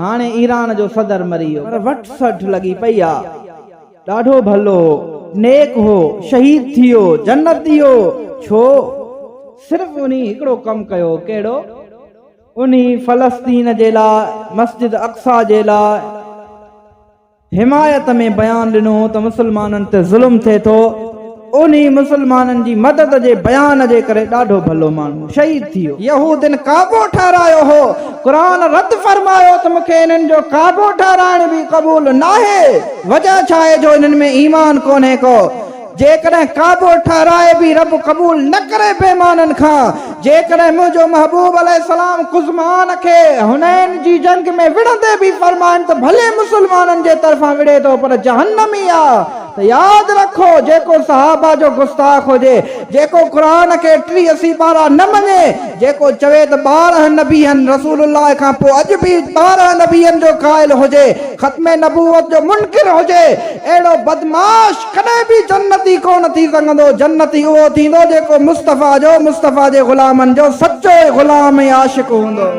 هاڻي ايران جو صدر مري ويو پر وٺ سٺ لڳي پئي آ ڏاڍو ڀلو هو نيڪ هو شهيد ٿي ويو جنت ڏي ويو ڇو صرف انهي هڪڙو ڪم ڪيو ڪهڙو انهي فلسطين جي لاء مسجد اقصيٰ جي لاء. حمايت ۾ بيان ڏنو ته مسلمانن تي ظلم ٿئي ٿو، انهي مسلمانن جي مدد جي بيان جي ڪري ڏاڍو ڀلو ماڻهو شهيد ٿي ويو. يهودين ڪعبو ٺهرايو هو، قرآن رد فرمايو ته مون کي انهن جو ڪعبو ٺهرائڻ به قبول ناهي، وجه ڇا آهي جو انهن ۾ ايمان ڪونهي ڪو. جيڪڏهن ڪعبو ٺهرائي به رب قبول نه ڪري بيمانن کان، جيڪڏهن منهنجو محبوب عليه السلام قزمان کي حنين جي جنگ ۾ وڙهندي به فرمائن ته ڀلي مسلمانن جي طرفان وڙهي ٿو پر جهنم ئي آ ته ياد رکو جيڪو صحابه جو گستاخ هجي، جيڪو قرآن کي ٽيهه سيپارا نه مڃي، جيڪو چوي ته ٻارهن نبيين، رسول الله کان پوء اڄ به ٻارهن نبيين جو قائل هجي، ختم نبوت جو منڪر هجي، اهڙو بدمعاش، ڪڏهن به جنتي ڪونه ٿي سگهندو، جنتي اهو ٿيندو جيڪو مصطفيٰ جو، مصطفيٰ جي غلامن جو سچو غلام ۽ عاشق هوندو.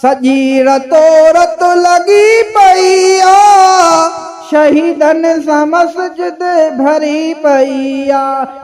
سڄي رتو رت لڳي پئي آ، شهيدن سان مسجد ڀري پئي آ.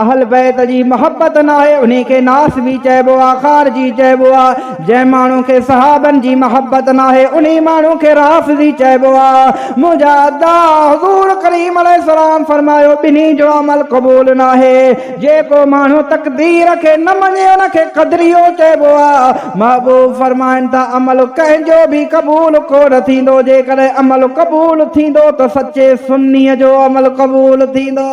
اهل بيت جي محبت ناهي انهي کي ناس به چئبو آ خارجي چئبو آ جنهن ماڻهو کي صحابن جي محبت ناهي انهي ماڻهو کي رافضي چئبو آ منهنجا ادا حضور ڪريم عليه السلام فرمايو ٻنهي جو عمل قبول ناهي جيڪو ماڻهو تقدير کي نه مڃي ان کي قدريو چئبو آ محبوب فرمائن ٿا عمل ڪنهن جو به قبول ڪونه ٿيندو جيڪڏهن عمل قبول ٿيندو ته سچي سني جو عمل قبول ٿيندو.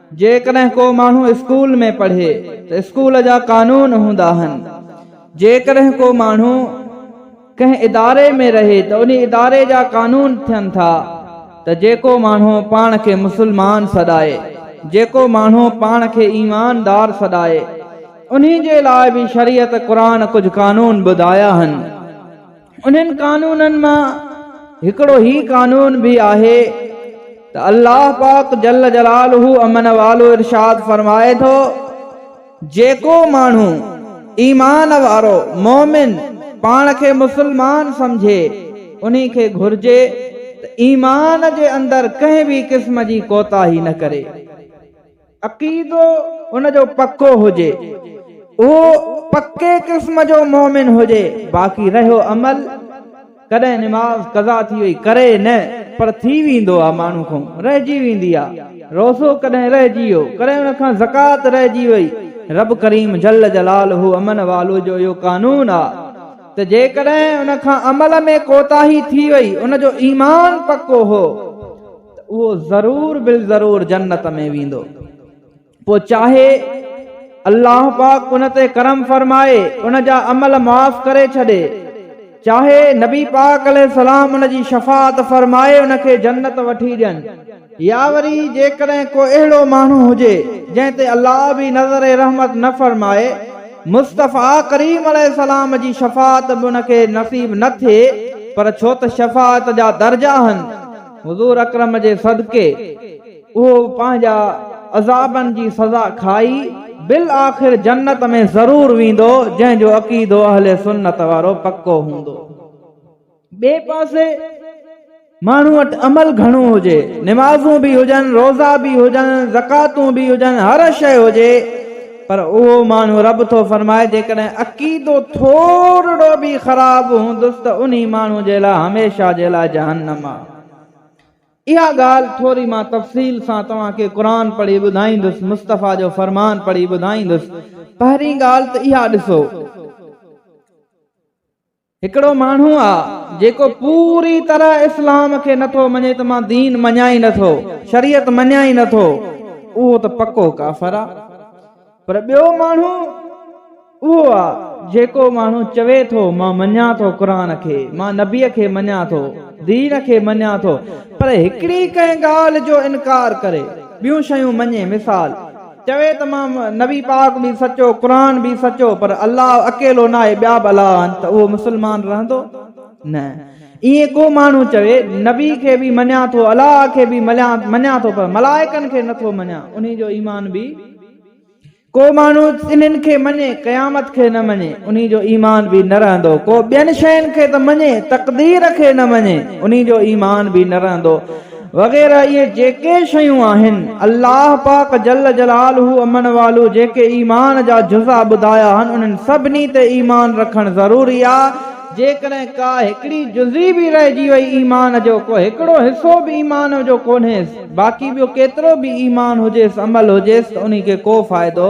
جيڪڏهن ڪو ماڻهو اسڪول ۾ پڙهي ته اسڪول جا قانون هوندا آهن، جيڪڏهن ڪو ماڻهو ڪنهن اداري ۾ رهي ته انهي اداري جا قانون ٿين ٿا ته جيڪو ماڻهو پاڻ کي مسلمان سڏائي، جيڪو ماڻهو پاڻ کي ايماندار سڏائي، انهي جي لاء به شريعت قرآن ڪجهه قانون ٻڌايا آهن. انهن قانونن مان هڪڙو هي قانون به آهي ته الله پاڪ جل جلاله امن والو ارشاد فرمائي ٿو جيڪو ماڻهو ايمان وارو مؤمن پاڻ کي مسلمان سمجهي انهي کي گهرجي ته ايمان جي اندر ڪنهن به قسم جي ڪوتاهي نه ڪري. عقيدو ان جو پڪو هجي، اهو پڪي قسم جو مؤمن هجي، باقي رهيو عمل، ڪڏهن نماز قضا ٿي وئي، ڪري نه، پر ٿي ويندو آ ماڻهو کان، رهجي ويندي آ، روزو ڪڏهن رهجي ويو، ڪڏهن ان کان زڪوات رهجي وئي، رب ڪريم جل جلاله امن والو جو اهو قانون آ ته جيڪڏهن ان کان عمل ۾ ڪوتاهي ٿي وئي، ان جو ايمان پڪو هو، ته اهو ضرور بالضرور جنت ۾ ويندو. پوء چاهي الله پاڪ ان تي ڪرم فرمائي ان جا عمل معاف ڪري ڇڏي، چاهي نبي پاڪ عليه السلام ان جي شفاعت فرمائي ان کي جنت وٺي ڏين. يا وري جيڪڏهن ڪو اهڙو ماڻهو هجي جنهن تي الله به نظر رحمت نه فرمائي، مصطفيٰ ڪريم عليه السلام جي شفاعت به ان کي نصيب نه ٿئي، پر ڇو ته شفاعت جا درجا آهن، حضور اڪرم جي صدقي اهو پنهنجا عذابن جي سزا کائي بالآخر جنت ۾ ضرور ويندو جنهن جو عقيدو اهل سنت وارو پڪو هوندو. ٻئي پاسي ماڻهو وٽ عمل گهڻو هجي، نمازون به هجن، روزا به هجن، زڪواتون به هجن، هر شيء هجي، پر اهو ماڻهو، رب ٿو فرمائي، جيڪڏهن عقيدو ٿورڙو به خراب به هوندس ته انهي ماڻهو جي لاء هميشه جي لاء جهنم آهي. اها ڳالهه ٿوري مان تفصيل سان توهان کي قرآن پڙهي ٻڌائيندس، مصطفيٰ جو فرمان پڙهي ٻڌائيندس. پهرين ڳالهه ته اها ڏسو. هڪڙو ماڻهو آ جيڪو پوري طرح اسلام کي نٿو مڃي ته مان دين مڃان ئي نٿو شريعت مڃان ئي نٿو اهو ته پڪو ڪافر آ پر ٻيو ماڻهو اهو آ جيڪو ماڻهو چوي ٿو مان مڃان ٿو قرآن کي مان نبي کي مڃان ٿو دين کي مڃان ٿو پر هڪڙي ڪنهن ڳالهه جو انڪار ڪري ٻيون شيون مڃي مثال چوي ته مان نبي پاڪ به سچو قرآن به سچو پر الله اڪيلو ناهي ٻيا به الاهه آهن ته اهو مسلمان رهندو نه ائين ڪو ماڻهو چوي نبي کي به مڃان ٿو الاهه کي به مڃان ٿو پر ملائڪن کي نه ٿو مڃان انهي جو ايمان به ڪو ماڻهو انهن کي مڃي قيامت کي نه مڃي انهي جو ايمان به نه رهندو ڪو ٻين شين کي ته مڃي تقدير کي نه مڃي انهي جو ايمان به نه رهندو وغيره اهي جيڪي شيون آهن الله پاڪ جل جلاله امن والو جيڪي ايمان جا جزا ٻڌايا هن انهن سڀني تي ايمان رکڻ ضروري آ، جيڪڏهن ڪا هڪڙي جزي به رهجي وئي ايمان جو ڪو هڪڙو حصو به ايمان جو ڪونهيس باقي ٻيو ڪيترو به ايمان هجيس عمل هجيس ته انهي کي ڪو فائدو.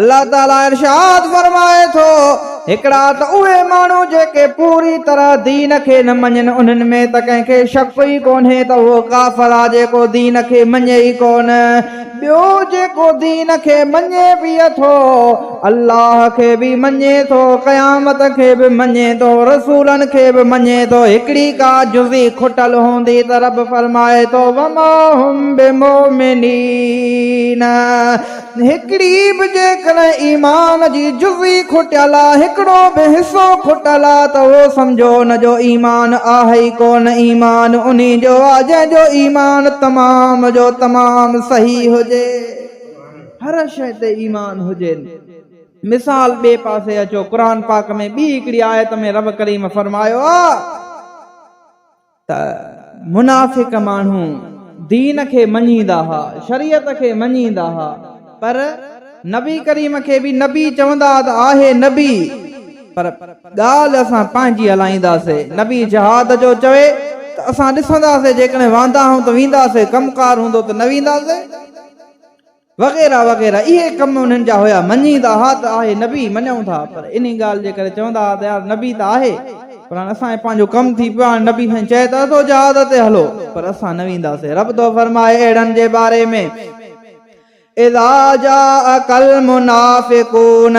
الله تعاليٰ ارشاد فرمائي ٿو، هڪڙا ته اهي ماڻهو جيڪي پوري طرح دين کي نه مڃين، انهن ۾ ته ڪنهن کي شڪ ئي ڪونهي ته اهو ڪافر آهي جيڪو دين کي مڃي ئي ڪونه، ٻيو جيڪو دين کي مڃي به ٿو، الله کي به مڃي ٿو، قيامت کي به مڃي ٿو، رسولن کي به مڃي ٿو، هڪڙي ڪا جزي کٽل هوندي ته رب فرمائي ٿو، وما هم بمؤمنين. هڪڙي به جيڪڏهن ايمان جي جزئي کٽيل آ، هڪڙو به حصو کٽيل آ ته اهو سمجهو ان جو ايمان آهي ئي ڪونه، ايمان انهي جو آ جنهن جو ايمان تمام جو تمام صحيح هجي. هر شيء تي ايمان هجين. مثال ٻئي پاسي اچو قرآن پاڪ ۾ ٻي هڪڙي آيت ۾ رب ڪريم فرمايو آ. ته منافق ماڻهو دين کي مڃيندا ها، شريعت کي مڃيندا ها، پر نبي ڪريم کي به نبي چوندا ها ته آهي نبي، پر ڳالهه اسان پنهنجي هلائينداسين، نبي جهاد جو چوي ته اسان ڏسنداسين جيڪڏهن واندا هئون ته وينداسين، ڪم ڪار هوندو ته نه وينداسين. وغيره وغيره اهي ڪم انهن جا هيا مڃيندا ها ته آهي نبي مڃون ٿا پر انهي ڳالهه جي ڪري چوندا ها ته يار نبي ته آهي پر هاڻي اسان کي پنهنجو ڪم ٿي پيو هاڻي نبي سائين چئي ته اٿو جهاد تي هلو پر اسان نه وينداسين رب ٿو فرمائي اهڙن جي باري ۾ اذا جاءڪ المنافقون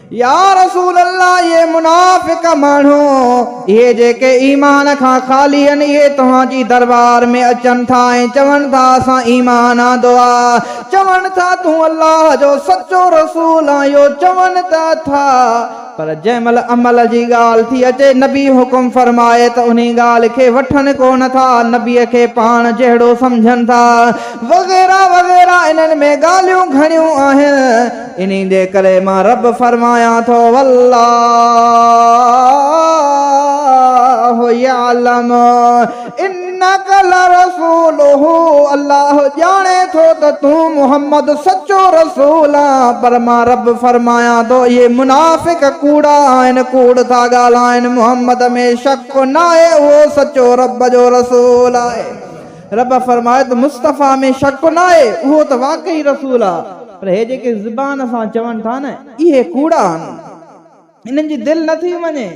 يا رسول الله اهي منافق ماڻهو، اهي جيڪي ايمان کان خالي آهن، اهي توهان جي دربار ۾ اچن ٿا ۽ چون ٿا اسان ايمان آندو آهي، چون ٿا تون الله جو سچو رسول آهين اهو چون ته ٿا، پر جنهن مهل عمل جي ڳالهه ٿي اچي نبي حڪم فرمائي ته انهي ڳالهه کي وٺن ڪونه ٿا، نبي کي پاڻ جهڙو سمجهن ٿا وغيره وغيره انهن ۾ ڳالهيون گهڻيون آهن. انهي جي ڪري مان رب فرمايان ٿو، والله يعلم انک لرسوله الله ڄاڻي ٿو ته تون محمد سچو رسول آن، پر مان رب فرمايان ٿو، اهي منافق ڪوڙا آهن، ڪوڙ ٿا ڳالهائين، محمد ۾ شڪ ناهي اهو سچو رب جو رسول آهي. رب فرمائي ته مصطفيٰ ۾ شڪ ناهي، اهو ته واقعي رسول آ، پر هي جيڪي زبان سان چون ٿا نه، اهي ڪوڙا آهن. انهن جي دل نه ٿي مڃي،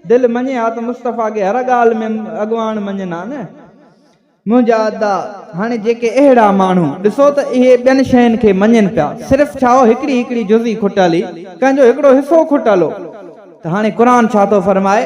دل مڃي ها ته مصطفيٰ کي هر ڳالهه ۾ اڳواڻ مڃين ها نه. منهنجا ادا! هاڻي جيڪي اهڙا ماڻهو، ڏسو ته اهي ٻين شين کي مڃين پيا، صرف ڇا هو هڪڙي هڪڙي جزئي کٽل هئي، ڪنهن جو هڪڙو حصو کٽل هو، ته هاڻي قرآن ڇا ٿو فرمائي؟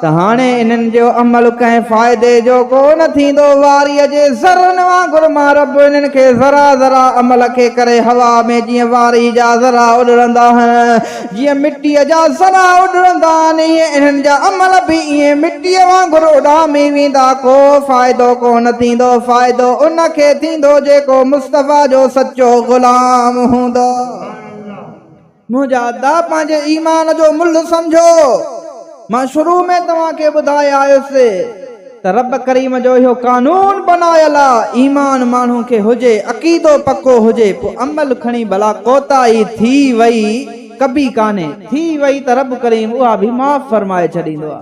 ته هاڻي انهن جو عمل ڪنهن فائدي جو ڪو نه ٿيندو، واريء جي ذرن وانگر مان رب انهن کي ذرا ذرا عمل کي ڪري هوا ۾ جيئن واريء جا ذرا اڏرندا آهن، جيئن مٽيء جا ذرا اڏرندا آهن، ايئن انهن جا عمل به ائين مٽيء وانگر اڏامي ويندا، ڪو فائدو ڪو نه ٿيندو، فائدو ان کي ٿيندو جيڪو مصطفيٰ جو سچو غلام هوندو. منهنجا ادا پنهنجي ايمان جو ملهه سمجهو، مان شروع ۾ توهان کي ٻڌائي آيس ته رب ڪريم جو اهو قانون بنايل آ ايمان ماڻهو کي هجي عقيدو پڪو هجي پوء عمل کڻي ڀلا ڪوتاهي ٿي وئي ڪبي ڪانهي ٿي وئي ته رب ڪريم اها به معاف فرمائي ڇڏيندو آ.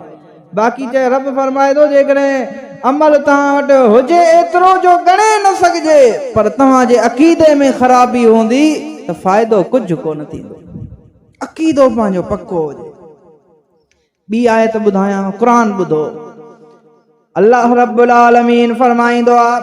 باقي ته رب فرمائي ٿو، جيڪڏهن عمل توهان وٽ هجي ايترو جو ڳڻي نه سگهجي، پر توهان جي عقيدي ۾ خرابي هوندي ته فائدو ڪجهه ڪونه ٿيندو. عقيدو پنهنجو پڪو هجي. ٻي آيت ٻڌايانو، قرآن ٻڌو. الله رب العالمين فرمائيندو آهي.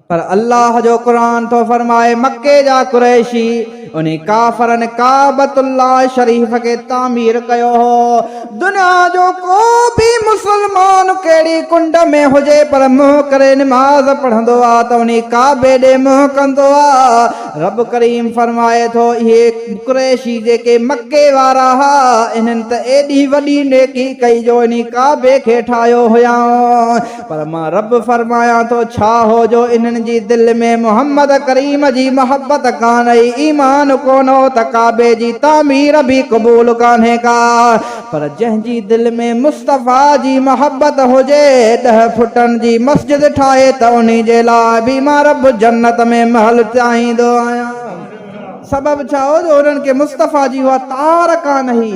پر الله جو قرآن ٿو فرمائي مڪي جا قريشي انهي ڪافرن ڪعبة الله شريف کي تعمير ڪيو هو. دنيا جو ڪو به مسلمان ڪهڙي ڪنڊ ۾ هجي پر منهن ڪري نماز پڙهندو آ ته انهي ڪعبي ڏي منهن ڪندو آ. رب ڪريم فرمائي ٿو اهي قريشي جيڪي مڪي وارا ها انهن ته ايڏي وڏي نيڪي ڪئي جو انهي ڪعبي کي ٺاهيو هيائون. پر مان رب فرمايان ٿو ڇا هو جو انهن جي دل ۾ محمد ڪريم جي محبت ڪانهي، ايمان ڪونه هو ته ڪعبي جي تعمير به قبول ڪانهي ڪا، پر جنهن جي دل ۾ مصطفيٰ جي محبت هجي، ڏهه فٽن جي مسجد ٺاهي ته انهي جي لاء به مان رب جنت ۾ محل چاهيندو آهيان. سبب ڇا هو جو انهن کي مصطفيٰ جي اها تار ڪانهي.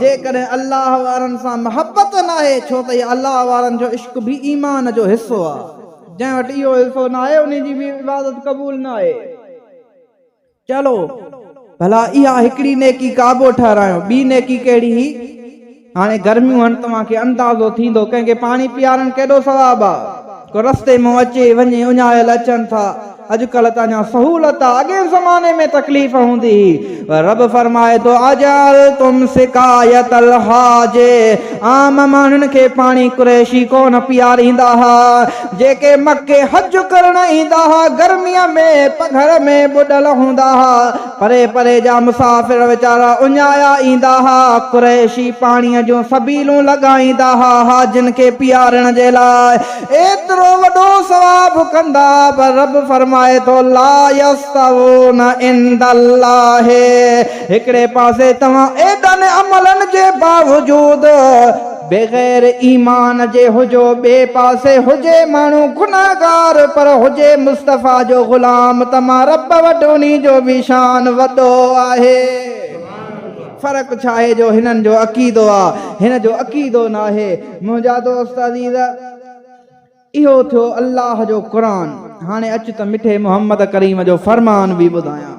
جيڪڏهن الله وارن سان محبت ناهي، ڇو ته الله وارن جو عشق به ايمان جو حصو آهي. جنهن وٽ اهو حصو ناهي، انهي جي به عبادت قبول ناهي. چلو، ڀلا اها هڪڙي نيڪي قابو ٺهرايون، ٻي نيڪي ڪهڙي هي؟ هاڻي گرميون هن، توهان کي اندازو ٿيندو، ڪنهن کي پاڻي پيارڻ ڪيڏو ثواب آهي. ڪو رستي مان اچي، وڃي، اڃايل اچن ٿا. اڄ ڪلهه ته اڃا سهولت آ اڳئين زماني ۾ تڪليف هوندي هي پر رب فرمائي ٿو اجعلتم سقايت الحاج عام ماڻهن کي پاڻي قريشي ڪونه پياريندا ها جيڪي مڪي حج ڪرڻ ايندا ها گرمي ۾ پگهر ۾ ٻڏل هوندا ها پري پري جا مسافر ويچارا اڃايا ايندا ها. قريشي پاڻيء جون سبيلون لڳائيندا ها، حاجين کي پيارڻ جي لاء ايترو وڏو ثواب ڪندا ها، پر رب فرمائي ٿو، لا يستوون عند الله، هڪڙي پاسي توهان ايڏن عملن جي باوجود، بغير ايمان جي هجو ٻئي پاسي هجي ماڻهو گنهگار پر هجي مصطفيٰ جو غلام ته مان رب وٽ انهي جو به شان وڏو آهي فرق ڇا آهي جو هنن جو عقيدو آ هن جو عقيدو ناهي منهنجا دوست عزيز اهو ٿيو الله جو قرآن هاڻي اچ ته مٺي محمد ڪريم جو فرمان به ٻڌايان.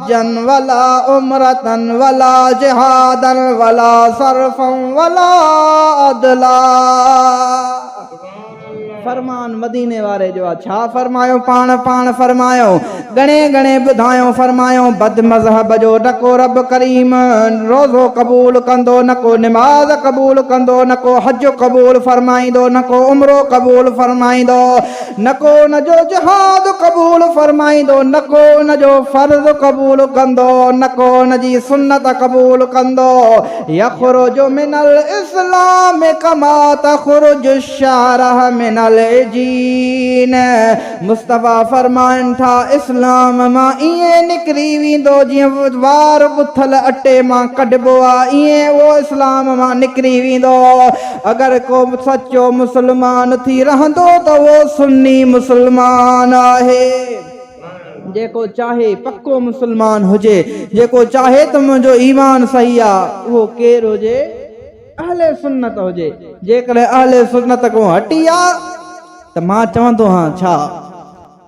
حجن ولا عمرتن ولا جهادن ولا صرفا ولا عدلا فرمان مديني واري جو آ ڇا فرمايو پاڻ پاڻ فرمايو ڳڻي ڳڻي ٻڌايو فرمايو بد مذهب جو نڪو رب ڪريم روزو قبول ڪندو نڪو نماز قبول ڪندو نڪو حج قبول فرمائيندو نڪو عمرو قبول فرمائيندو نڪو ان جو جهاد قبول فرمائيندو، نڪو ان جو فرض قبول ڪندو، نڪو ان جي سنت قبول ڪندو، يخرج من الاسلام ڪما تخرج الشعره من العجين، مصطفيٰ فرمائن ٿا اسلام مان ائين نڪري ويندو جيئن وار ڳٿل اٽي مان ڪڍبو آهي ائين اهو اسلام مان نڪري ويندو. اگر ڪو سچو مسلمان ٿي رهندو ته اهو سني مسلمان آهي، جيڪو چاهي پڪو مسلمان هجي، جيڪو چاهي ته منهنجو ايمان صحيح آ، اهو ڪير هجي اهل سنت هجي، جيڪڏهن اهل سنت کان هٽي آ ته مان چوندو هان ڇا؟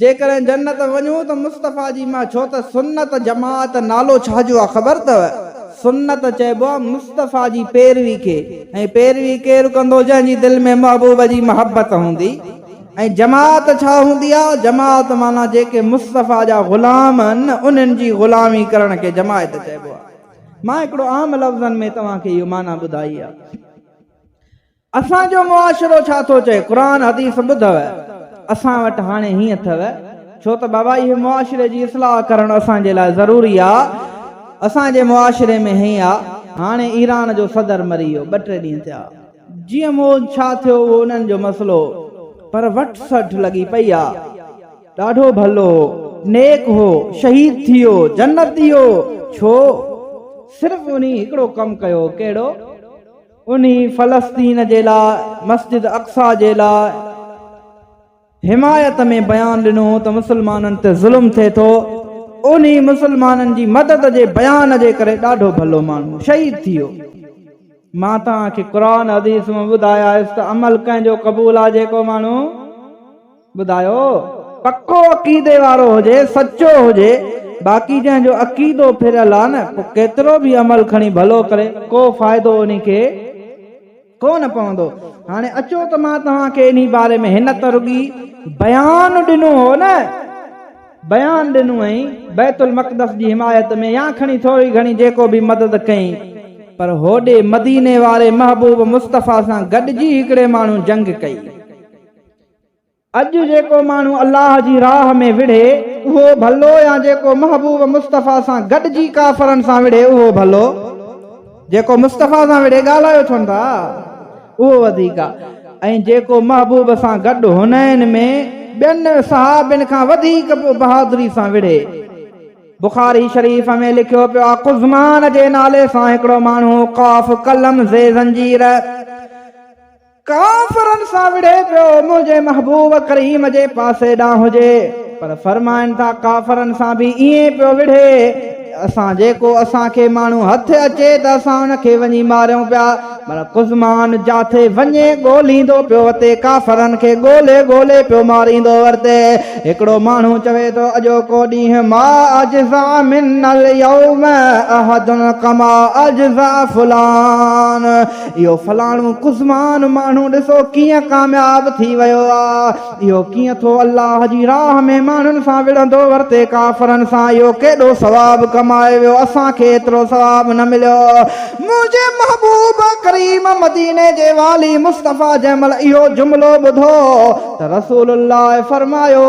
جيڪڏهن جنت وڃون ته مصطفيٰ جي مان ڇو ته سنت جماعت نالو ڇا جو آ خبر ٿو سنت چئبو آ مصطفيٰ جي پيروي کي ۽ پيروي ڪير ڪندو جنهن جي دل ۾ محبوب جي محبت هوندي ۽ جماعت ڇا هوندي آ جماعت معنيٰ جيڪي مصطفيٰ جا غلام هن انهن جي غلامي ڪرڻ کي جماعت چئبو آ مان هڪڙو عام لفظن ۾ توهان کي اهو معنيٰ ٻڌائي آ. اسان جو معاشرو ڇا ٿو چئي قرآن حديث ٻڌو اسان وٽ هاڻي هيئن اٿئو ڇو ته بابا اهي معاشري جي اصلاح ڪرڻ اسان جي لاء ضروري آ اسان جي معاشري ۾ هيئن آ هاڻي ايران جو صدر مري ويو ٻه ٽي ڏينهن ٿيا جيئن مون ڇا ٿيو اهو انهن جو مسئلو پر وٺ سٺ لڳي پئي آ ڏاڍو ڀلو هو نيڪ هو شهيد ٿي ويو جنت ڏي ويو ڇو صرف انهي هڪڙو ڪم ڪيو ڪهڙو. انهي فلسطين جي لاء مسجد اقصيٰ جي لاء حمايت ۾ بيان ڏنو ته مسلمانن تي ظلم ٿئي ٿو انهي مسلمانن جي مدد جي بيان جي ڪري ڏاڍو ڀلو ماڻهو شهيد ٿي ويو مان توهان کي قرآن حديث مان ٻڌايائس ته عمل ڪنهن جو قبول آهي جيڪو ماڻهو ٻڌايو، پڪو عقيدي وارو هجي، سچو هجي، باقي جنهن جو عقيدو ڦريل آ نه، پوء ڪيترو به عمل کڻي ڀلو ڪري، ڪو فائدو انهي کي ڪو نه پوندو. هاڻي اچو ته مان توهان کي انهي باري ۾ هن ته رڳي بيان ڏنو هو نه، بيان ڏنو هئين، بيت المقدس جي حمايت ۾ يا کڻي ٿوري گهڻي جيڪو به مدد ڪئين، پر هوڏي مديني واري محبوب مصطفيٰ سان گڏجي هڪڙي ماڻهو جنگ ڪئي. اڄ جيڪو ماڻهو الله جي راهه ۾ وڙهي اهو ڀلو يا جيڪو محبوب مصطفيٰ سان گڏجي ڪافرن سان وڙهي اهو ڀلو؟ جيڪو مصطفيٰ سان وڙهي ڳالهايو ڇو نه ٿا اهو وڌيڪ آ ۽ جيڪو محبوب سان گڏ حنين ۾ ٻين صحابين کان وڌيڪ بهادري سان وڙهي. بخاري شريف ۾ لکيو پيو آ قزمان جي نالي سان هڪڙو ماڻهو قاف قلم زي زنجير، ڪافرن سان وڙهي پيو منهنجي محبوب ڪريم جي پاسي ڏانهن هجي پر فرمائن ٿا ڪافرن سان به ائين پيو وڙهي ته اسان جيڪو اسان کي ماڻهو هٿ اچي ته اسان ان کي وڃي ماريون پيا پر قزمان جاٿي وڃي ڳوليندو پيو وتي ڪافرن کي ڳولي ڳولي پيو ماريندو ورتي هڪڙو ماڻهو چوي ٿو اڄوڪو ڏينهن ما اجزا من اليوم احد ڪما اجزا فلان اهو فلاڻو قزمان ماڻهو ڏسو ڪيئن ڪامياب ٿي ويو آ. اهو ڪيئن ٿو الله جي راهه ۾ ماڻهن سان وڙهندو ورتي ڪافرن سان اهو ڪيڏو ثواب ڪمائي ويو اسان کي ايترو ثواب نه مليو. منهنجي محبوب ڪريم مديني جي والي مصطفيٰ جنهن مهل اهو جملو ٻڌو ته رسول الله فرمايو.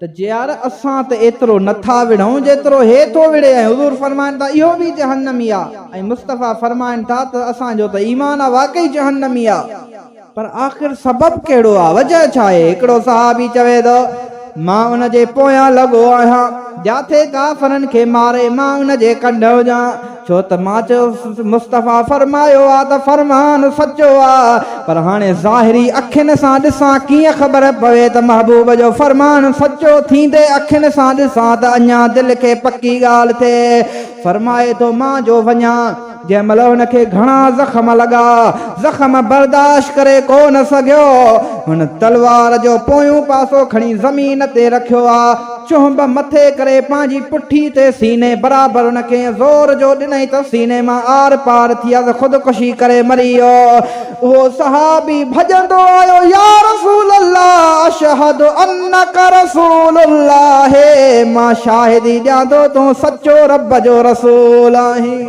ته يار اسان ته ايترو نه ٿا وڙهون جيترو هي ٿو وڙهي ۽ حضور فرمائن ٿا اهو به جهنمي آ ۽ مصطفيٰ فرمائن ٿا ته اسان جو ته ايمان آ واقعي جهنمي آ. پر آخر سبب ڪهڙو آ وجهه ڇا آهي هڪڙو صحابي چوي ٿو مان ان جي پويان لڳو آهيان جاٿي ڪافرن کي ماري مان ان جي ڪنڍ هجان. ڇو ته مان چيس مصطفيٰ فرمايو آ ته فرمان سچو آ پر هاڻي ظاهري اکين سان ڏسان ڪيئن خبر پوي ته محبوب جو فرمان سچو ٿيندي اکين سان ڏسان ته اڃا دل کي پڪي ڳالهه ٿئي فرمائي ٿو مان جو وڃان. جنهن مهل هن کي گهڻا زخم لڳا زخم برداشت ڪري ڪو نه سگهيو هن تلوار جو پويون پاسو کڻي زمين تي رکيو آ. چهنب مٿي ڪري پنهنجي پٺي تي سيني برابر ان کي ائين زور جو ڏنائين ته سيني مان آر پار ٿي عرض خودڪشي ڪري مري ويو. اهو صحابي ڀڄندو آيو يا رسول الله اشهد انک رسول الله مان شاهدي ڏيان ٿو تون سچو رب جو رسول آهين.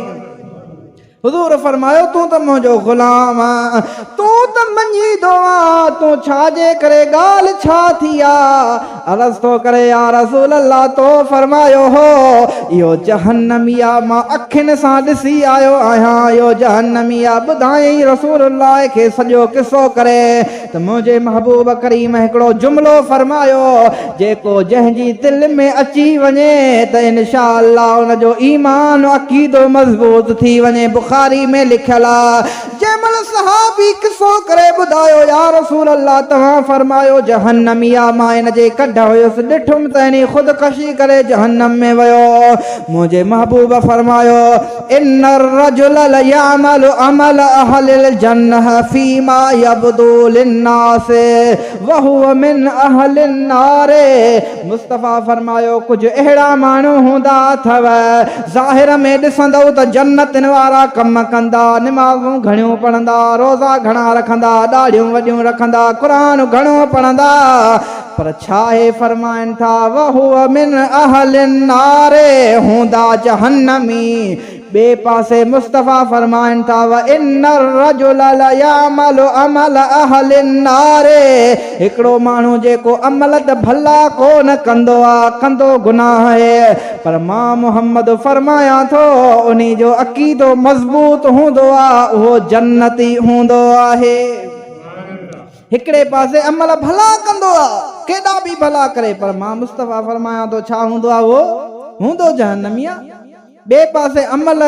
حضور فرمايو تون ته منهنجو غلام آن، تون ته مڃيندو آن، تون ڇا جي ڪري ڳالهه ڇا ٿي آ؟ عرض ٿو ڪري يا رسول الله تو فرمايو هو اهو جهنمي آ، مان اکين سان ڏسي آيو آهيان اهو جهنمي آ، ٻڌائين رسول الله کي سڄو قصو ڪري. ته منهنجي محبوب ڪريم هڪڙو جملو فرمايو، جيڪو جنهن جي دل ۾ اچي وڃي ته انشاء الله ان جو ايمان عقيدو مضبوط ٿي وڃي بخاري ۾ لکيل آ جنهن مهل صحابي قصو ڪري ٻڌايو يا رسول الله توهان فرمايو جهنمي آ مان ان جي ڪڍ هيس ڏٺم ته انهي خودڪشي ڪري جهنم ۾ ويو منهنجي محبوب فرمايو ان الرجل ليعمل عمل اهل الجنه فيما يبدو للناس وهو من اهل النار مصطفيٰ فرمايو ڪجهه اهڙا ماڻهو هوندا اٿو ظاهر ۾ ڏسندؤ ته جنتين وارا ڪم ڪندا نمازون گهڻيون پڙهندا روزا گهڻا رکندا ڏاڙهيون وڏيون رکندا قرآن گهڻو پڙهندا پر ڇا اهي فرمائن ٿا وهو من اهل النار هوندا جهنمي ٻئي پاسي مصطفي فرمائن ٿا وان الرجل ليعمل عمل اهل النار هڪڙو ماڻهو جيڪو عمل ته ڀلا ڪو نه ڪندو آ ڪندو گناهه اهي پر مان محمد فرمايان ٿو انهي جو عقيدو مضبوط هوندو آ اهو جنتي هوندو آهي. هڪڙي پاسي عمل ڀلا ڪندو آ، ڪيڏا به ڀلا ڪري، پر مان مصطفيٰ فرمايان ٿو ڇا هوندو آ اهو؟ هوندو جهنمي آ. ٻئي پاسي عمل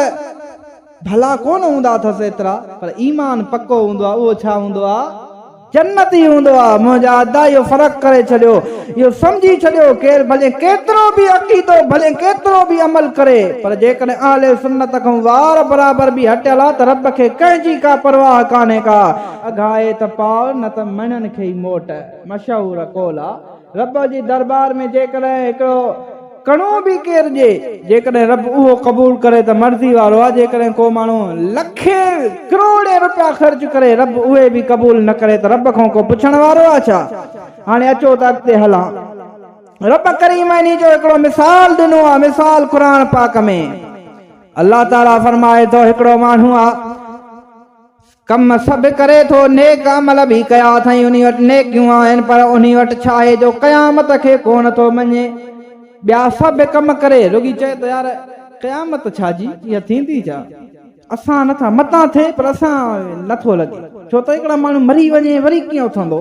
ڀلا ڪونه هوندا اٿس ايترا، پر ايمان پڪو هوندو آ، اهو ڇا هوندو آ؟ جنتي هوندو آ. منهنجا ادا اهو فرق ڪري ڇڏيو، اهو سمجهي ڇڏيو، ڪير ڀلين ڪيترو به عقيدو، ڀلين ڪيترو به عمل ڪري، پر جيڪڏهن اهل سنت کان وار برابر به هٽيل آ ته رب کي ڪنهن جي ڪا پرواهه ڪانهي ڪا. اگهائي ته پاء نه ته مڻن کي ئي موٽ. مشهور قول آ رب جي دربار ۾ جيڪڏهن هڪڙو ڪڻو به ڪير ڏي جيڪڏهن رب اهو قبول ڪري ته مرضي وارو آ جيڪڏهن ڪو ماڻهو لکين ڪروڙين روپيا خرچ ڪري رب اهي به قبول نه ڪري ته رب کان ڪو پڇڻ وارو آ ڇا؟ هاڻي اچو ته اڳتي هلان. رب ڪريم انهي جو هڪڙو مثال ڏنو آ مثال قرآن پاڪ ۾ الله تعالي فرمائي ٿو هڪڙو ماڻهو آ. ڪم سڀ ڪري ٿو، نيڪ عمل به ڪيا اٿائين انهي وٽ نيڪيون آهن، پر انهي وٽ ڇا آهي جو قيامت کي ڪونه ٿو مڃي؟ ٻيا سڀ ڪم ڪري، رڳي چئي ته يار قيامت ڇا جي، اها ٿيندي ڇا؟ اسان نٿا، متان ٿئي پر اسان نٿو لڳي، ڇو ته هڪڙا ماڻهو مري وڃي وري ڪيئن اٿندو؟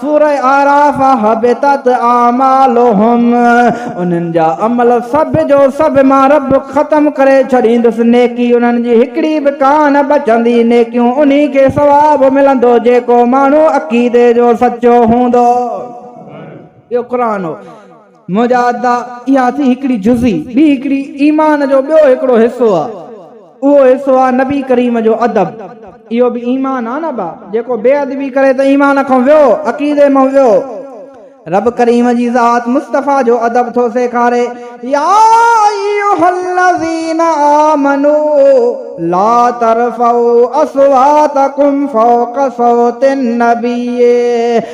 سورة اعراف، حبطت اعمالهم، انهن جا عمل سڀ جو سڀ مان رب ختم ڪري ڇڏيندس، نيڪي انهن جي هڪڙي به ڪانه بچندي، نيڪيون انهي کي ثواب ملندو جيڪو ماڻهو عقيدي جو سچو هوندو. اهو قرآن هو. منهنجا ادا، اها ٿي هڪڙي جزي، ٻي هڪڙي ايمان جو ٻيو هڪڙو حصو آ. اهو حصو آ نبي ڪريم جو ادب. اهو به ايمان آ نه ابا، جيڪو بي ادبي ڪري ته ايمان کان ويو، عقيدي مان ويو. رب ڪريم جي ذات مصطفيٰ جو ادب ٿو سيکاري، يا ايها الذين آمنو لا ترفعوا اصواتکم فوق صوت النبي.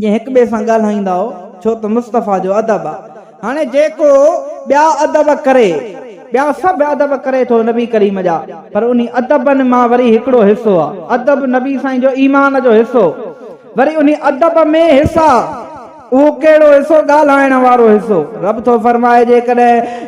جي هڪ ٻئي سان ڳالهائيندا هئا، ڇو ته مصطفيٰ جو ادب آ. هاڻي جيڪو ٻيا ادب ڪري، ٻيا سڀ ادب ڪري ٿو نبي ڪريم جا، پر انهي ادبن مان وري هڪڙو حصو آ، ادب نبي سائين جو ايمان جو حصو، وري انهي ادب ۾ حصا، اهو ڪهڙو حصو ڳالهائڻ وارو حصو، رب ٿو فرمائي جيڪڏهن.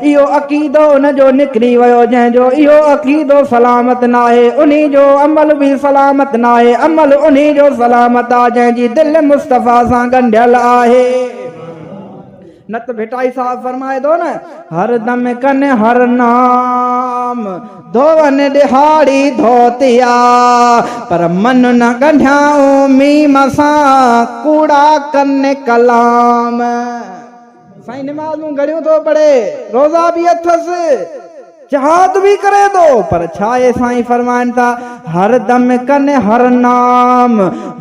اهو عقيدو ان جو نڪري ويو جنهن جو اهو عقيدو سلامت ناهي انهي جو عمل به سلامت ناهي عمل انهي جو سلامت آهي جنهن جي دل مصطفيٰ سان ڳنڍيل آهي نت ڀٽائي صاحب فرمائي ٿو نه هر دم ڪن هر نام ڌوون ڏهاڙي ڌوتيا پر من نه ڳنڍيائون ميم سان ڪوڙا ڪن ڪلام سائين نمازون گهڻيون ٿو پڙهي، روزا به اٿس، جهاد به ڪري ٿو، پر ڇا اهي سائين فرمائن ٿا، هر دم ڪن هر نام،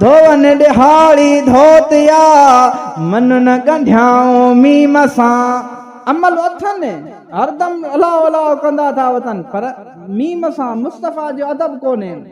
ڌوئن ڏهاڙي ڌوتيا، منن ڳنڍيائون ميم سان. عمل اٿن، هر دم الاهو الاهو ڪندا ٿا وتن، پر ميم سان، مصطفيٰ جو ادب ڪونهين.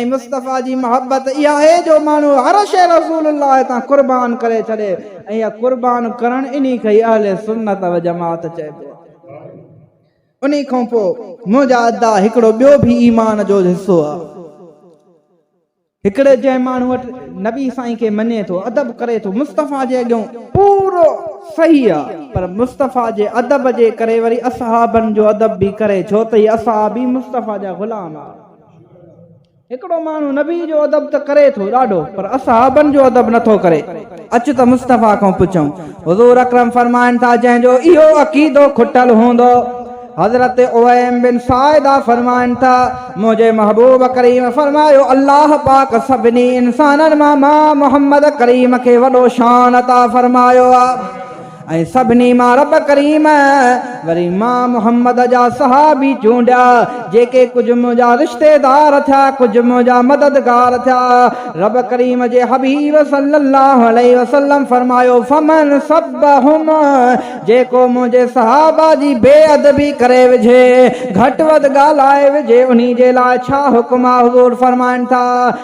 ۽ مصطفيٰ جي محبت اها آهي جو ماڻهو هر شيء رسول الله تان قربان ڪري ڇڏي ۽ اها قربان ڪرڻ انهي کي ئي اهل سنت و جماعت چئبو آهي. انهي کان پوء منهنجا ادا هڪڙو ٻيو به ايمان جو حصو آهي. هڪڙي جنهن ماڻهو وٽ نبي سائين کي مڃي ٿو، ادب ڪري ٿو، مصطفيٰ جي اڳيون پورو صحيح آهي پر مصطفيٰ جي ادب جي ڪري وري اصحابن جو ادب به ڪري ڇو ته هي اصحاب ئي مصطفيٰ جا غلام آهن. هڪڙو ماڻهو نبي جو ادب ته ڪري ٿو ڏاڍو پر اصحابن جو ادب نه ٿو ڪري. اچ ته مصطفيٰ کان پڇون. حضور اڪرم فرمائن ٿا جنهن جو اهو عقيدو کٽل هوندو. حضرت اويم بن ساعده فرمائن ٿا منهنجي محبوب ڪريم فرمايو الله پاڪ سڀني انسانن مان مان محمد ڪريم کي وڏو شان عطا فرمايو آهي. ۽ سڀني مان رب ڪريم وري مان محمد جا صحابي چونڊيا جيڪي ڪجهه منهنجا رشتيدار ٿيا ڪجهه منهنجا مددگار ٿيا رب ڪريم جي حبيب صلي الله عليه وسلم فرمايو فمن سبهم جيڪو منهنجي صحابه جي بي ادبي ڪري وجهي گهٽ وڌ ڳالهائي وجهي انهي جي لاء ڇا حڪم آهي حضور فرمائن ٿا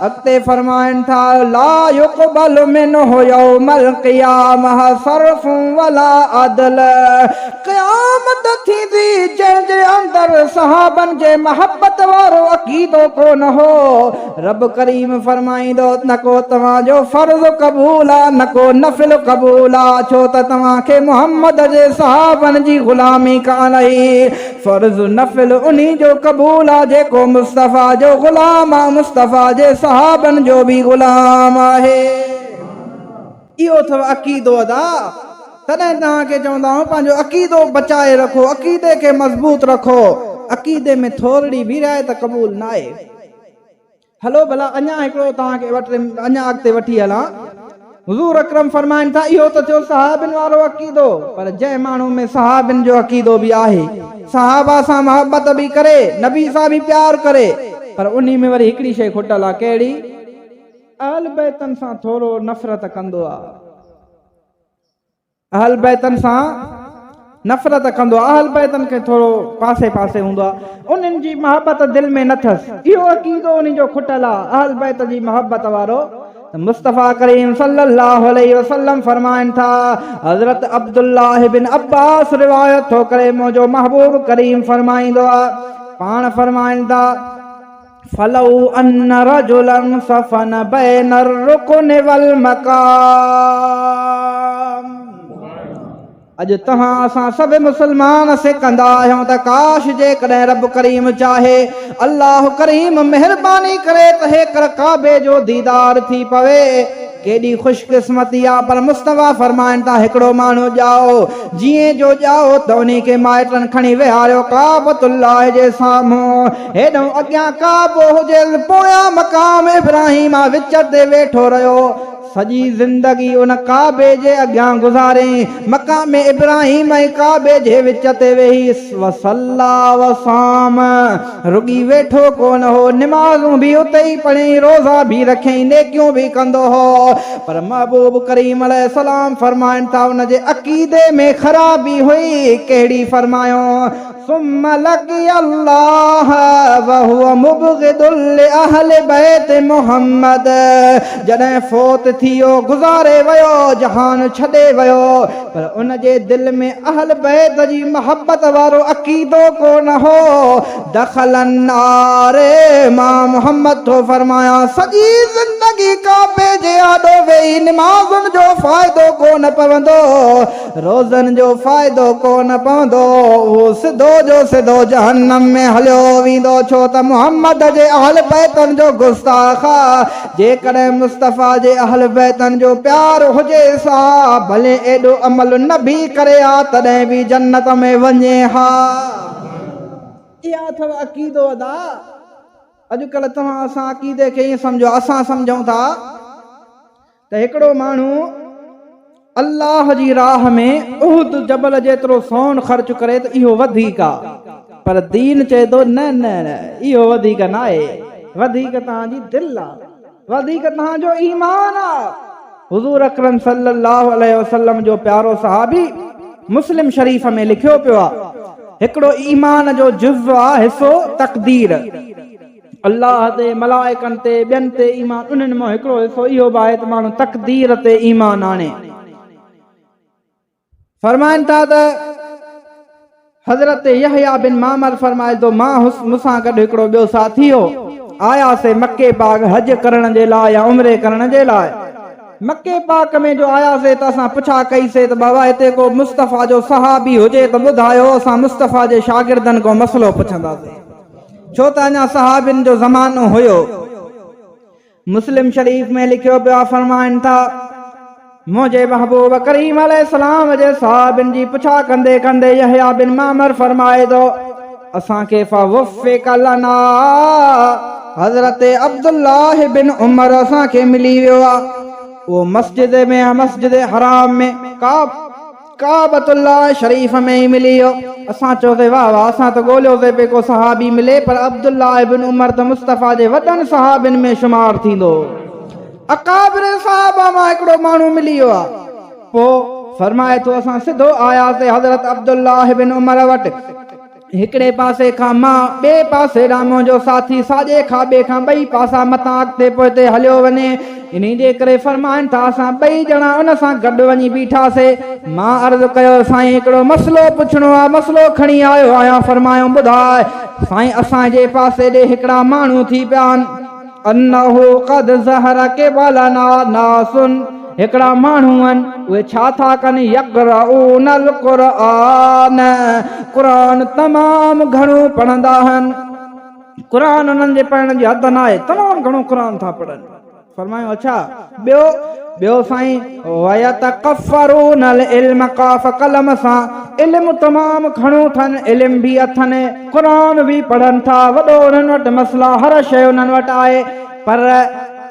اڳتي فرمائن ٿا، لا يقبل منه يوم القيامة صرف ولا عدل، قيامت ٿيندي جنهن جي اندر صحابن جي محبت وارو عقيدو ڪونه هو، رب ڪريم فرمائيندو، نه ڪو توهان جو فرض قبول آ نه ڪو نفل قبول آ، ڇو ته توهان کي محمد جي صحابن جي غلامي ڪانه هئي. فرض نفل انهي جو قبول آ جيڪو مصطفيٰ جو غلام آ مصطفيٰ جي صحابن جو به غلام آهي اهو اٿو عقيدو ادا تڏهن توهان کي چوندا آهيون پنهنجو عقيدو بچائي رکو عقيدي کي مضبوط رکو عقيدي ۾ ٿورڙي به راء ته قبول ناهي. هلو ڀلا اڃا هڪڙو توهان کي اڃا اڳتي وٺي هلان. حضور اڪرم فرمائن ٿا اهو ته ٿيو صحابين وارو عقيدو پر جنهن ماڻهو ۾ صحابين جو عقيدو به آهي، صحابه سان محبت به ڪري، نبي سان به پيار ڪري پر انهي ۾ وري هڪڙي شيء کٽل آ ڪهڙي؟ اهل بيتن سان ٿورو نفرت ڪندو آ. اهل بيتن سان نفرت ڪندو آهي، اهل بيتن کي ٿورو پاسي پاسي هوندو آهي، انهن جي محبت دل ۾ نه ٿس، اهو عقيدو انهن جو کٽل آهي، اهل بيت جي محبت وارو ته مصطفيٰ ڪريم صلّي اللّٰه عليه وسلّم فرمائن ٿا، حضرت عبدالله بن عبّاس روايت ٿو ڪري، منهنجو محبوب ڪريم فرمائيندو آهي، پاڻ فرمائن ٿا. فلو ان رجلا صفن بين الرڪن والمقام اڄ تهان اسان سڀ مسلمان سڪندا آهيون ته ڪاش جيڪڏهن رب ڪريم چاهي الله ڪريم مهرباني ڪري ته هيڪر ڪعبي جو ديدار ٿي پوي ڪيڏي خوش قسمتي آ پر مصطفيٰ فرمائن ٿا هڪڙو ماڻهو ڄائو جيئن جو ڄائو ته انهي کي مائٽن کڻي ويهاريو ڪعبة الله جي سامهون هيڏهون اڳيان ڪعبو هجيس پويان مقام ابراهيم آ وچ تي ويٺو رهيو سڄي زندگي ان ڪعبي جي اڳيان گذارين مقام ابراهيم ۽ ڪعبي جي وچ تي ويهي وصلي وصام رڳي ويٺو ڪونه هو، نمازون به اتي ئي پڙهين، روزا به رکين، نيڪيون به ڪندو هو. پر محبوب ڪريم عليه السلام فرمائن ٿا، ان جي عقيدي ۾ خرابي هئي، ڪهڙي؟ فرمايون، ثم لقي الله وهو مبغض لاهل بيت محمد جڏهن فوت ٿي ويو، گذاري ويو، جهان ڇڏي ويو، پر ان جي دل ۾ اهل بيت جي محبت وارو عقيدو ڪو نه هو. دخل النار مان محمد ٿو فرمايان سڄي زندگي ڪعبي جي آڏو ويهي نمازن جو فائدو ڪو نه پوندو، روزن جو فائدو ڪو نه پوندو، اهو سڌو جو سڌو جهنم ۾ هليو ويندو ڇو ته محمد جي اهل بيتن جو گستاخ جيڪڏهن مصطفيٰ جي اهل بيتن جو پيار هجيس ها ڀلي ايڏو عمل نه به ڪري ها تڏهن به جنت ۾ وڃي ها اها اٿو عقيدو ادا اڄڪلهه توهان اسان عقيدي کي ائين سمجهو اسان سمجهون ٿا ته هڪڙو ماڻهو الله جي راهه ۾ احد جبل جيترو سون خرچ ڪري ته اهو وڌيڪ آ پر دين چئي ٿو نه نه اهو وڌيڪ ناهي وڌيڪ توهان جي دل آ وڌيڪ توهان جو ايمان آ حضور اڪرم صلي الله عليه وسلم جو پيارو صحابي مسلم شريف ۾ لکيو پيو آ هڪڙو ايمان جو جز آ حصو تقدير. الله تي، ملائڪن تي، ٻين تي ايمان انهن مان هڪڙو حصو اهو به آهي ته ماڻهو تقدير تي ايمان آڻي. فرمائن ٿا ته حضرت يحيٰ بن معمر فرمائي ٿو، مان هوس، مون سان گڏ هڪڙو ٻيو ساٿي هو، آياسين مڪي پاڪ حج ڪرڻ جي لاء يا عمري ڪرڻ جي لاء. مڪي پاڪ ۾ جو آياسين ته اسان پڇا ڪئي سين ته بابا هتي ڪو مصطفيٰ جو صحابي هجي ته ٻڌايو، اسان مصطفيٰ جي شاگردن کان مسئلو پڇنداسين. ڇو ته اڃا صحابين جو زمانو هيو مسلم شريف ۾ لکيو پيا فرمائن ٿا منهنجي محبوب ڪريم عليه السلام جي صحابين جي پڇا ڪندي ڪندي يحيى بن معمر فرمائي ٿو اسان کي فوفق لنا حضرت عبد الله بن عمر اسان کي ملي ويو آ اهو مسجد ۾ مسجد حرام ۾ ڪعب ڪعبة الله شريف ۾ ئي ملي ويو. اسان چيوسين واه واه اسان ته ڳوليوسين پئي ڪو صحابي ملي پر عبدالله ابن عمر ته مصطفيٰ جي وڏن صحابين ۾ شمار ٿيندو. اڪابر صحابه مان هڪڙو ماڻهو ملي ويو آ. پوء فرمائي ٿو اسان سڌو آياسين حضرت عبدالله ابن عمر وٽ. هڪڙي پاسي کان مان، ٻئي پاسي ڏانهن منهنجو ساٿي، ساڄي کاٻي کان ٻئي پاسا متان اڳتي پوئتي هليو وڃي. انهي جي ڪري فرمائن ٿا اسان ٻئي ڄڻا ان سان گڏ وڃي بيٺاسي. مان عرض ڪيو سائين هڪڙو مسئلو پڇڻو آ، مسئلو کڻي آيو آهيان فرمايائون ٻڌاء. سائين اسان جي پاسي ڏي هڪڙا ماڻهو ٿي پيا آهن. انه قد ظهر قبلنا ناس هڪڙا ماڻهو آهن اهي ڇا ٿا ڪن يقرؤون القرآن قرآن تمام گهڻو پڙهندا آهن قرآن انهن جي پڙهڻ جي حد ناهي تمام گهڻو قرآن ٿا پڙهن فرمايو اڇا ٻيو، ٻيو سائين، ويتڪفرون العلم قاف قلم سان علم تمام گهڻو اٿن، علم به اٿن، قرآن به پڙهن ٿا، وڏو انهن وٽ مسئلا، هر شيء انهن وٽ آهي، پر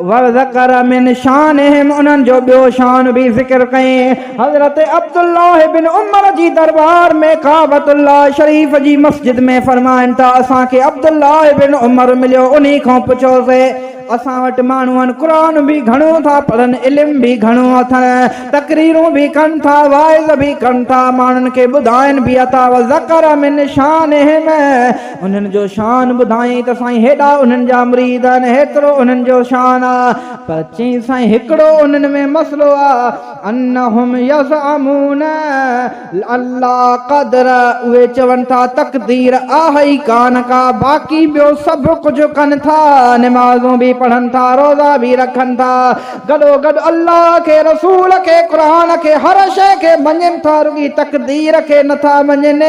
وذڪر من شانهم انهن جو ٻيو شان به ذڪر ڪيائين، حضرت عبدالله بن عمر جي دربار ۾ ڪعبة الله شريف جي مسجد ۾ فرمائن ٿا، اسان کي عبدالله بن عمر مليو، انهي کان پڇيوسين، اسان وٽ ماڻهون قرآن به گهڻو ٿا پڙهن، علم به گهڻو اٿن، تقريرون به ڪن ٿا، واعظ به ڪن ٿا، ماڻهن کي ٻڌائين به اٿا، وذڪر من شانهم، انهن جو شان ٻڌائين ته سائين هيڏا انهن جا مريد آهن، هيترو انهن جو شان آ، پر چيائين سائين هڪڙو انهن ۾ مسئلو آ، انهم يزعمون اللا قدر اهي چون ٿا تقدير آهي ئي ڪانه ڪا باقي ٻيو سڀ ڪجهه ڪن ٿا نمازون به پڙهن ٿا روزا به رکن ٿا گڏوگڏ الله کي رسول کي قرآن کي هر شيء کي مڃين ٿا رڳي تقدير کي نٿا مڃين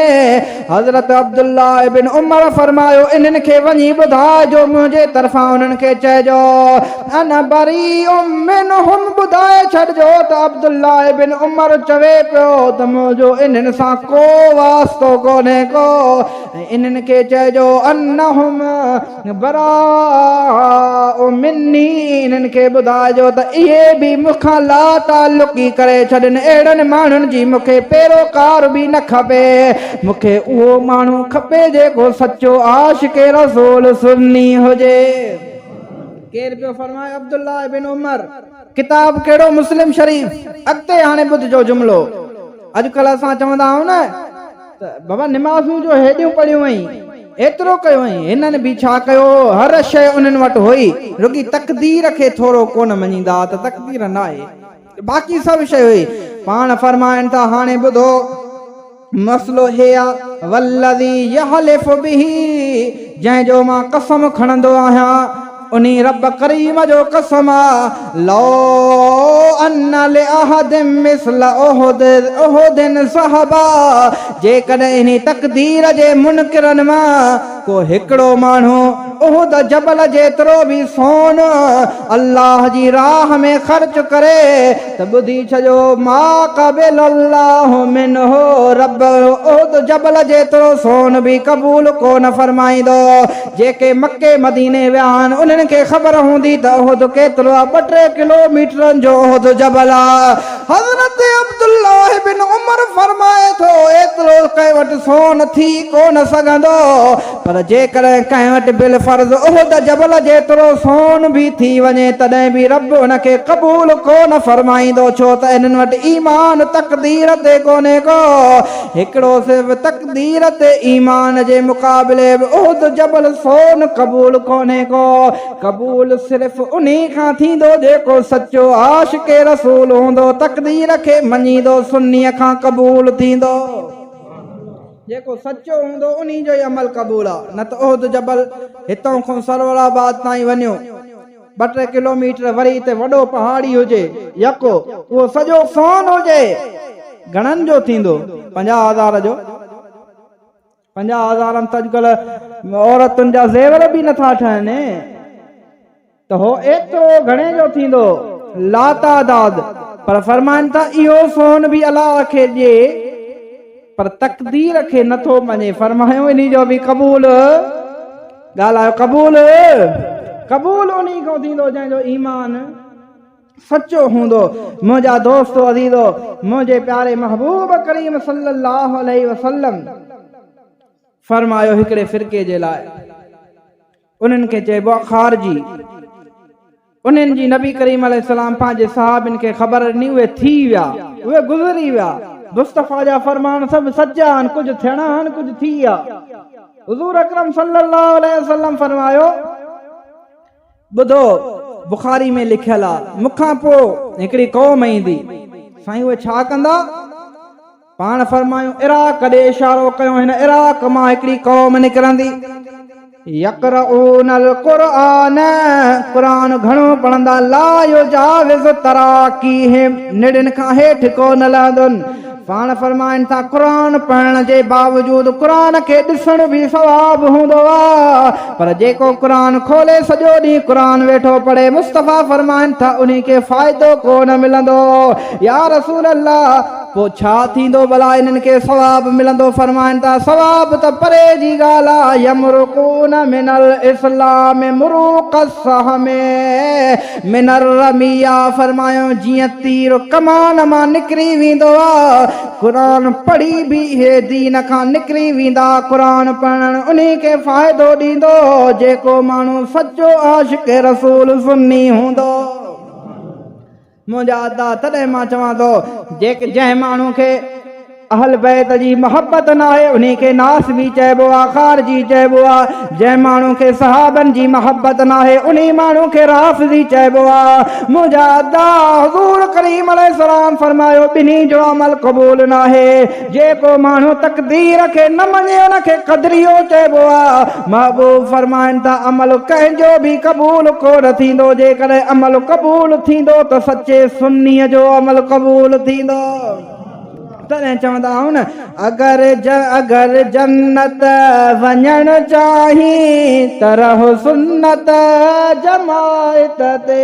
حضرت عبدالله ابن عمر فرمايو، انهن کي وڃي ٻڌاء جو منهنجي طرفان انهن کي چئجو، انا بريء منهم ٻڌائي ڇڏجو ته عبدالله ابن عمر چوي پيو ته منهنجو انهن سان ڪو واسطو ڪونهي ڪو ۽ انهن کي چئجو انهم براء مني انهن کي ٻڌائجو ته اهي به مون کان لاتعلقي ڪري ڇڏين، اهڙن ماڻهن جي مون کي پيروڪار به نه کپي، مون کي اهو ماڻهو کپي جيڪو سچو عاشق رسول سني هجي. ڪير پيو فرمائي عبدالله بن عمر ڪتاب ڪهڙو مسلم شريف اڳتي هاڻي ٻڌجو جملو اڄڪلهه اسان چوندا آهيون نه. ته بابا نمازون جو هيڏيون پڙهيون هئين، ايترو ڪيو هئين، هنن به ڇا ڪيو هو، هر شيء انهن وٽ هئي، رڳي تقدير کي ٿورو ڪونه مڃيندا هئا ته تقدير ناهي، باقي سڀ شيء هئي. پاڻ فرمائن ٿا، هاڻي ٻڌو، مسئلو هي آ، والذي يحلف به، جنهن جو مان قسم کڻندو آهيان، انهي رب ڪريم جو قسم آ لو ان لاحد مثل احد احد ذهبا جيڪڏهن انهي تقدير جي منڪرن مان ڪو هڪڙو ماڻهو احد جبل جيترو به سون الله جي راهه ۾ خرچ ڪري ته ٻڌي ڇڏيو ما قبل الله منه رب احد جبل جيترو سون به قبول ڪونه فرمائيندو. جيڪي مڪي مديني ويا آهن انهن کي خبر هوندي ته احد ڪيترو آهي ٻه ٽي ڪلو ميٽرن جو احد جبل آهي حضرت عبدالله بن عمر فرمائي ٿو ايترو ڪنهن وٽ سون ٿي ڪونه سگهندو پر جيڪڏهن ڪنهن وٽ بالفرض احد جبل جيترو سون به ٿي وڃي تڏهن به رب ان کي قبول ڪونه فرمائيندو ڇو ته انهن وٽ ايمان تقدير تي ڪونهي ڪو هڪڙو صرف تقدير تي ايمان جي مقابلي به احد جبل سون قبول ڪونهي ڪو، قبول صرف انهي کان ٿيندو جيڪو سچو عاشق رسول هوندو، تقدير کي مڃيندو سني کان قبول ٿيندو، جيڪو سچو هوندو انهي جو ئي عمل قبول آ، نه ته احد جبل هتئون کون سرور آباد تائين وڃيو. ٻه ٽي ڪلوميٽر وري ته وڏو پهاڙي هجي يڪو اهو سڄو سون هجي گهڻن جو ٿيندو پنجاهه هزار جو پنجاهه هزارن ته اڄڪلهه عورتن جا زيور به نٿا ٺهن ته هو ايترو گهڻي جو ٿيندو لاتعداد پر فرمائن ٿا اهو سون به الله کي ڏي پر تقدير کي نٿو مڃي فرمايو انهي جو به قبول ڳالهه آهي قبول، قبول انهي کان ٿيندو جنهن جو ايمان سچو هوندو. منهنجا دوستو عزيزو! منهنجي پياري محبوب ڪريم صلي الله عليه وسلم فرمايو هڪڙي فرقي جي لاء انهن کي چئبو آهي خارجي. انهن جي نبي ڪريم عليه السلام پنهنجي صحابين کي خبر ڏني اهي ٿي ويا، اهي گذري ويا، مصطفيٰ جا فرمان سڀ سچا آهن، ڪجهه ٿيڻا آهن، ڪجهه ٿي ويا. حضور اڪرم صلي الله عليه وسلم فرمايو، ٻڌو، بخاري ۾ لکيل آهي، مون کان پوء هڪڙي قوم ايندي، سائين اهي ڇا ڪندا؟ پاڻ فرمايو عراق ڏي اشارو ڪيو هن عراق مان هڪڙي قوم نڪرندي يقرؤون القرآن قرآن گهڻو پڙهندا لا يجاوز تراقيهم نڙين کان هيٺ ڪو نه لهندن پاڻ فرمائن ٿا قرآن پڙهڻ جي باوجود قرآن کي ڏسڻ به ثواب هوندو آهي پر جيڪو قرآن کولي سڄو ڏينهن قرآن ويٺو پڙهي مصطفيٰ فرمائن ٿا انهي کي فائدو ڪو نه ملندو يا رسول الله پوء ڇا ٿيندو ڀلا انهن کي ثواب ملندو فرمائن ٿا ثواب ته پري جي ڳالهه آ يمرقون من الاسلام مروق السهم من الرميه فرمايائون جيئن تير ڪمان مان نڪري ويندو آ قرآن پڙهي به اهي دين کان نڪري ويندا قرآن پڙهڻ انهي کي فائدو ڏيندو جيڪو ماڻهو سچو عاشق رسول سني هوندو منهنجا ادا تڏهن مان چوان ٿو جيڪ جنهن ماڻهو کي اهل بيت جي محبت ناهي انهي کي ناس بي چئبو آ خار جي چئبو آ جنهن ماڻهو کي صحابن جي محبت ناهي انهي ماڻهو کي راس جي چئبو آ منهنجا ادا حضور ڪريم عليه السلام فرمايو ٻنهي جو عمل قبول ناهي جيڪو ماڻهو تقدير کي نه مڃي ان کي قدريو چئبو آهي. محبوب فرمائن ٿا، عمل ڪنهن جو به قبول ڪونه ٿيندو، جيڪڏهن عمل قبول ٿيندو ته سچي سني جو عمل قبول ٿيندو. تڏهن چوندا آهن، اگر اگر جنت وڃڻ چاهين ته رهه سنت جماعت تي.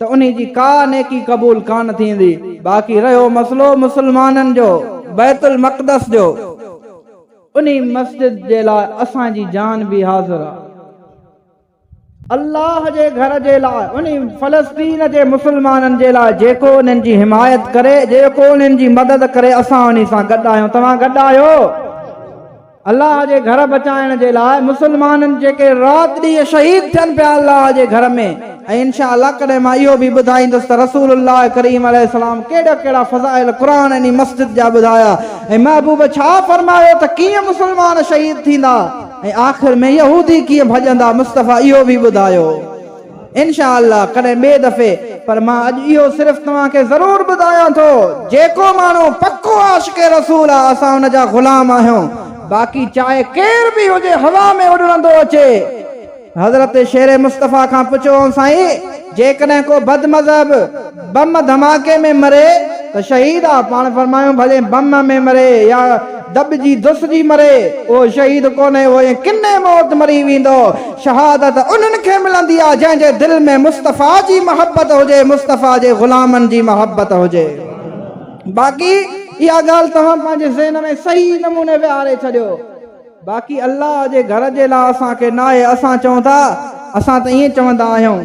ته انهي جي ڪا نيڪي قبول ڪانه ٿيندي، باقي رهيو مسئلو مسلمانن جو بيت المقدس جو، انهي مسجد جي لاء اسان جي جان به حاضر آ، الله جي گهر جي لاء، انهي فلسطين جي مسلمانن جي لاء جيڪو انهن جي حمايت ڪري، جيڪو انهن جي مدد ڪري، اسان انهي سان گڏ آهيون، توهان گڏ آهيو؟ الله جي گهر بچائڻ جي لاء مسلمانن جيڪي رات ڏينهن شهيد ٿين پيا الله جي گهر ۾ ۽ انشاء الله ڪڏهن مان اهو به ٻڌائيندس ته رسول الله ڪريم عليه السلام ڪهڙا ڪهڙا فضائل قرآن انهي مسجد جا ٻڌايا ۽ محبوب ڇا فرمايو ته ڪيئن مسلمان شهيد ٿيندا ۽ آخر ۾ يهودي ڪيئن ڀڄندا مصطفيٰ اهو به ٻڌايو. انشاء الله ڪڏهن ٻئي دفعي پر مان اڄ اهو صرف توهان کي ضرور ٻڌايان ٿو جيڪو ماڻهو پڪو عاشق رسول آ اسان ان جا غلام آهيون باقي چاهي ڪير به هجي هوا ۾ اڏڙندو اچي حضرت شير مصطفي کان پڇيوئون سائين جيڪڏهن ڪو بد مذهب بم ڌماڪي ۾ مري ته شهيد آ، پاڻ فرمايو ڀلي بم ۾ مري يا دٻجي دسجي مري، اهو شهيد ڪونهي، اهو ائين ڪني موت مري ويندو. شهادت انهن کي ملندي آ، جنهن جي دل ۾ مصطفيٰ جي محبت هجي، مصطفيٰ جي غلامن جي محبت هجي. باقي اها ڳالهه توهان پنهنجي ذهن ۾ صحيح نموني ويهاري ڇڏيو. باقي الله جي گهر جي لا اسان کي ناهي، اسان چئون ٿا، اسان ته ائين چوندا آهيون.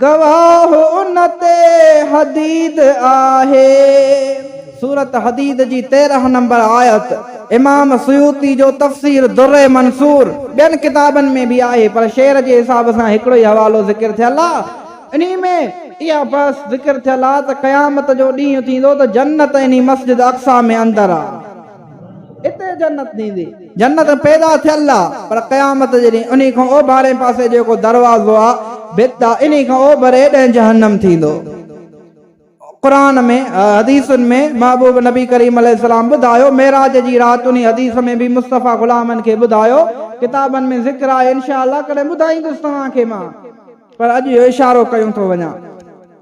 گواهه ان تي حديد آهي. سورة حديد جي تيرهن نمبر آيت امام سيوطي جو تفسير در منثور ٻين ڪتابن ۾ به آهي پر شعر جي حساب سان هڪڙو ئي حوالو ذڪر ٿيل آ انهي ۾ اها بحث ذڪر ٿيل آ ته قيامت جو ڏينهن ٿيندو ته جنت انهي مسجد اقصيٰ ۾ اندر آ. اتي جنت ٿيندي. جنت پيدا ٿيل آ، پر قيامت جي ڏينهن انهي کان اوڀارئين پاسي جيڪو دروازو آ، ڀت آ، انهي کان اوڀري ڏانهن جهنم ٿيندو. قرآن ۾، حديثن ۾، محبوب نبي ڪريم عليه السلام ٻڌايو، معراج جي رات انهي حديث ۾ به مصطفيٰ غلامن کي ٻڌايو، ڪتابن ۾ ذڪر آهي، انشاء الله ڪڏهن ٻڌائيندس توهان کي مان، پر اڄ اهو اشارو ڪيون ٿو وڃان.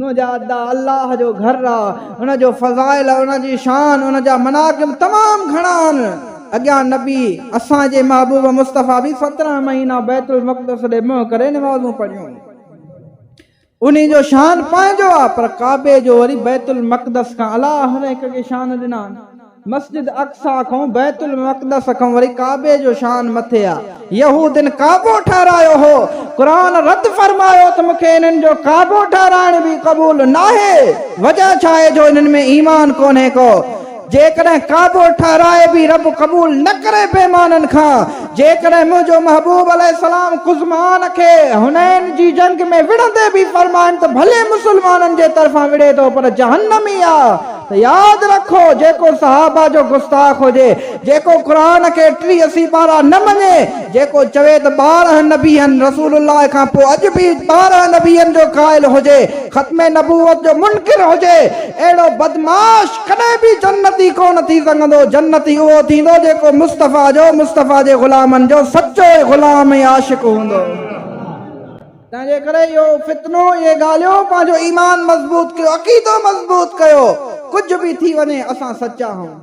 نوح جا ادا الله جو گهر آ ان جو فضائل ان جي شان ان جا مناقب تمام گهڻا آهن اڳيان نبي اسان جي محبوب مصطفي به سترهن مهينا بيت المقدس ڏي منهن ڪري نمازون پڙهيون انهي جو شان پنهنجو آ پر ڪعبي جو وري بيت المقدس کان اعليٰ هر هڪ کي شان ڏنا مسجد اقصيٰ کان، بيت المقدس کان وري ڪعبي جو شان مٿي آ. يهودين ڪعبو ٺهرايو هو. قرآن رد فرمايو ته مون کي انهن جو ڪعبو ٺهرائڻ به قبول ناهي. وجه ڇاهي جو انهن ۾ ايمان ڪونهي ڪو. جيڪڏهن ڪعبو ٺهرائي به رب قبول نه ڪري بيمانن کان. جيڪڏهن منهنجو محبوب عليه السلام قزمان کي حنين جي جنگ ۾ وڙهندي به فرمائن ته ڀلي مسلمانن جي طرفان وڙهي ٿو پر جهنمي آ. ته ياد رکو، جيڪو صحابه جو گستاخ هجي، جيڪو قرآن کي ٽيهه سيپارا نه مڃي، جيڪو چوي ته ٻارهن نبيين، رسول الله کان پوء اڄ به ٻارهن نبيين جو قائل هجي، ختم نبوت جو منڪر هجي، اهڙو بدمعاش ڪڏهن به جنتي ڪونه ٿي سگهندو، جنتي اهو ٿيندو جيڪو مصطفيٰ جو، مصطفيٰ جي غلامن جو سچو غلام ۽ عاشق هوندو. تنهنجي ڪري اهو فتنو، اهي ڳالهيون، پنهنجو ايمان مضبوط ڪيو، عقيدو مضبوط ڪيو، ڪجهه به ٿي وڃي اسان سچا آهون.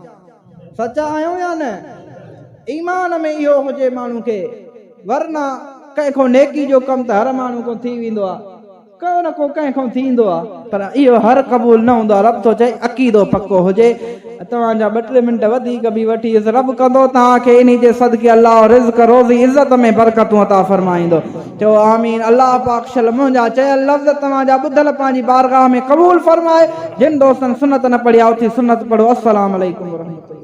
سچا آهيون يا نه؟ ايمان ۾ اهو هجي ماڻهو کي، ورنه ڪنهن کان نيڪي جو ڪم ته هر ماڻهو کان ٿي ويندو آهي، ڪو نه ڪو ڪنهن کان ٿيندو آهي. پر اهو هر قبول نه هوندو آهي رب ٿو چئي عقيدو پڪو هجي ۽ توهان جا ٻه ٽي منٽ وڌيڪ به وٺيس رب ڪندو توهان کي انهي جي صدقي الله رزق روزي عزت ۾ برڪتون عطا فرمائيندو چئو آمين الله پاڪ شل منهنجا چيل لفظ توهان جا ٻڌل پنهنجي بارگاهه ۾ قبول فرمائي جن دوستن سنت نه پڙهي آء اٿي سنت پڙهو السلام عليڪم ورحمة الله.